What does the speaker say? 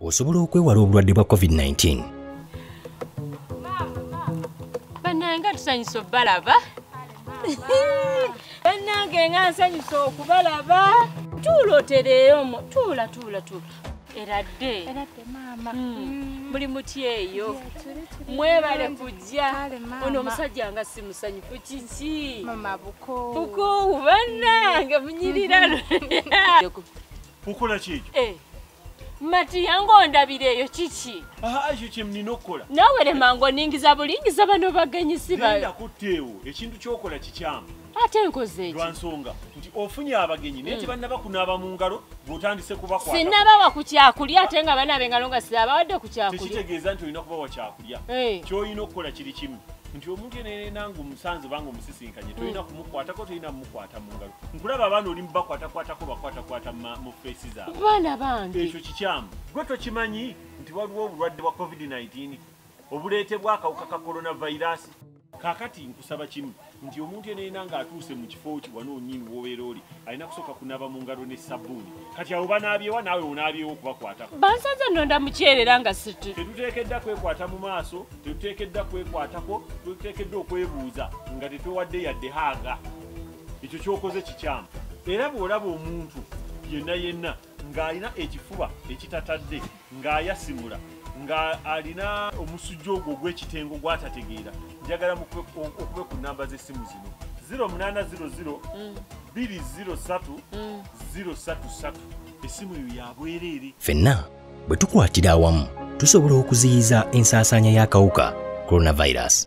osobola okwewala obulwadde bwa covid-19 bananga tusanyusa obalaba banange nga nsanyusa okubalaba tuula otereeyomu tuula tuula tuula eradde hmm. muli muty eyo mwebale kujja ono omusajja nga si musanyufu kiki bukoowu banange munyirira hmm. matiya ng'ondabira eyo kiki ekyo kyemnina okukola naawe lema ng'oningiza bulingiza bano bagenyi sibaenda kutteewo ekintu kyokola kikyamu ate nkoze eki lwansonga nti ofunye abagenyi naye hmm. tebannaba kunaaba mu ngalo ng'otandise kubakwata sinnabawa ku kyakulya ate nga banaaba engalo nga siabawadde ku kyakulya tekitegeeza nti olina kubawa kyakulya okulya eh. kyolina okukola kiri kimu nti omuntu yeneyena nga omusanze banga omusisinkanye tolina mm. kumukwatako tolina mumukwata mu ngalo nkulaba abaana oli mubakwatakwatako bakwatakwata mu feesi zabaana bange ekyo kikyamu gwe tokimanyi nti waliwo obulwadde bwa covid-19 obuleetebwa akawuka ka coronavirus kakati nkusaba kimu nti omuntu eneena ng'atuuse mu kifo ki wano onyini wobeera oli alina kusooka kunaaba mu ngalo ne sabbuuni kati awo banaabyewa naawe onaabyewo okubakwatako bansanze nonda mukyerera nga siti tetuteekedda kwekwata mu maaso tetuteekedda kwekwatako tetuteekedde okwebuuza nga tetwewadde yadde haaga ekyo kyokoze kikyamu era bw'olaba omuntu yenna yenna ng'alina ekifuba ekitatadde ng'ayasimula ng'alina omusujja ogwo ogw'ekitengo gwatategeera njagala okube ku namba z'essimu zino 0800 203 033 essimu eyo yabwereere fenna bwe tukwatira awamu tusobola okuziyiza ensaasaanya y'akawuka coronavirus